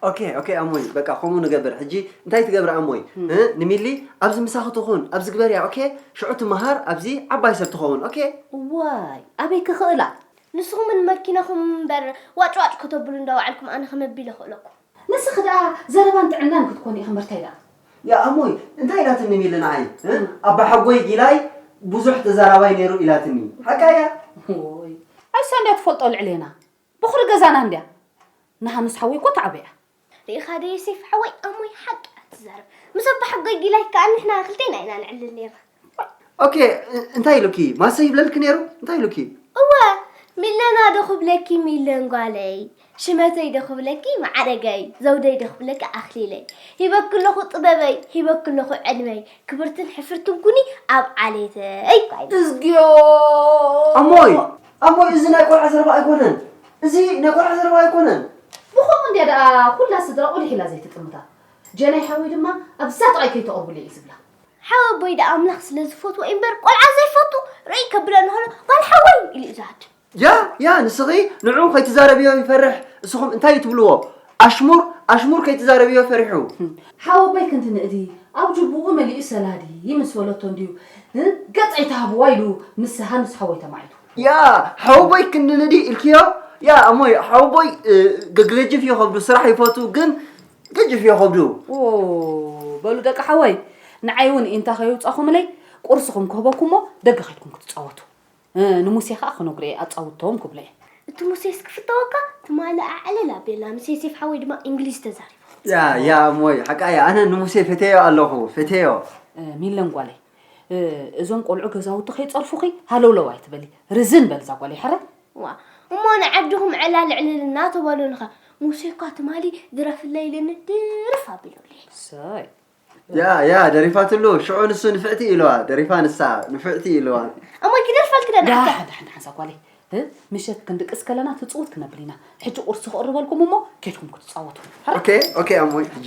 ኦኬ ኦኬ ኣሞይ በቃ ከምኡ ንገብር ሕጂ እንታይ ትገብሪ ኣሞይ እ ንሚሊ ኣብዚ ምሳኺ ትኹን ኣብዚ ግበርያ ኦኬ ሽዑ ትመሃር ኣብዚ ዓባይ ሰብ ትኸውን ኦኬ። እዋይ ኣበይ ክኽእላ ንስኹም ን መኪናኹም እምበር ዋጭ ዋጭ ከተብሉ እንዳ ወዓልኩም ኣነ ከመይ ኣቢለ ክእለኩም። ንስኺ ደኣ ዘረባን ጥዕናን ክትኮኒ ኢኺ እምበር እንታይ ደኣ። ያእ ኣሞይ እንታይ ኢላትኒ ንሚሊ ንዓይ እ ኣባሓጎይ ጊላይ ብዙሕ ተዛራባይ ነይሩ ኢላትኒ ሓቃ እያ። ዎይ ኣሳ እንድያ ትፈልጦ ልዕሌና ቦኽሪ ገዛና እንድያ ንሃንስ ሓወይ እኮ ተዓብያ። ሪኢኻ ዶ ዮሴፍ ሓወይ ኣሞይ ሓቂ እያ ትዛረብ ምስ ኣባሓጎይ ጊላይ ከኣ ንሕና ክልቴና ኢና ንዕልል ኔርና። ኦኬ እንታይ ኢሉኪ ማሰ ይብለልኪ ኔሩ እንታይ ኢሉኪ? እወ ሚለና ዶ ክብለኪ ሚለን ጓለይ ሽመተይ ዶ ክብለኪ ማዕረገይ ዘውደይ ዶ ክብለኪ ኣኽሊለይ ሂበኪ ኣለኹ ጥበበይ ሂበኪ ኣለኹ ዕድመይ ክብርትን ሕፍርትን ኩኒ ኣብ ዓሌተይ እዝግዮ ኣሞይ ኣቦይ እዚ ናይ ቆልዓ ዘረባ ኣይኮነን እዚ ናይ ቆልዓ ዘረባ ኣይኮነን። ብኸምኡ እንድያ ደኣ ኩላ ስድራ ቁሊሕ ኢላ ዘይትጥምታ። ጀናይ ሓወይ ድማ ኣብዛ ጥቓይ ከይተቕርቡለይ እዩ ዝብላ። ሓው ኣቦይ ደኣ ኣምላኽ ስለ ዝፈትዎ እዩ እምበር ቆልዓ ዘይፈቱ ርእይ ከብሎ እንከሎ ጓል ሓወይ ኢሉ እዩ ዝሃድም። ያ ያ ንስኺ ንዕኡ ከይትዛረብዮ ይፈርሕ እስኹም እንታይ እዩ ትብልዎ ኣሽሙር ኣሽሙር ከይትዛረብዮ ፈሪሑ። ሓወቦይ ክንዲ ንእዲ ኣብ ጁቡኡ መሊኡ ሰላዲ ምስ በለቶ እንድዩ ገጽ ኣይትሃብዋ ኢሉ ምስ ሃንስ ሓወይ ተማዒቱ። ያ ሓወቦይ ክንዲ ንእዲ ኢልክዮ ያ እሞ ሓወቦይ ገግለጅፍ እዮ ከብዱ ስራሕ ይፈቱ ግን ገጅፍ እዮ ከብዱ። በሉ ደቂ ሓወይ ንዓይ እውን ኢንታ ከይውጻኹምለይ ቁርስኹም ክህበኩምሞ ደገ ከድኩም ክትጻወቱ። ንሙሴ ከኣ ክነግሮ እየ ኣጻውድተዎም ክብሎ እየ። እቲ ሙሴስ ክፍተወካ ትማሊ ኣዕልል ኣቢልና ምስ ዮሴፍ ሓወይ ድማ እንግሊዝ ተዛሪብና። ያ ያ እሞይ ሓቃ እያ ኣነ ንሙሴ ፈቴዮ ኣለኹ ፈቴዮ። ሚለን ጓለይ እዞም ቆልዑ ገዛውቲ ከይጸርፉኺ ሃለውለው ኣይትበሊ ርዝን በል እዛ ጓለይ ሕረ። ዋ እሞ ንዓድኹም ዕላል ዕልል እናተበሉልኸ ሙሴ እኳ ትማሊ ድረፍለይ ኢሉኒ ድርፍ ኣቢሉለይ። እሰይ ያ ያ ደሪፋትሉ ሽዑ ንሱ ንፍዕቲ ኢልዋ ደሪፋ ንሳ ንፍዕቲ ኢልዋ እሞይ ክደርፍ ኣልክደን ዳ ኣታ ሓንቲ ሓንቲ ሓንሳ ጓለይ እ፣ ምሸት ክንድቅስ ከለና ትጽውት ክነብል ኢና ሕጂ ቁርሲ ክቕርበልኩም እሞ ኬድኩም ክትጻወቱ ሃራ ኦኬ ኦኬ ኣሞይ ሕጂ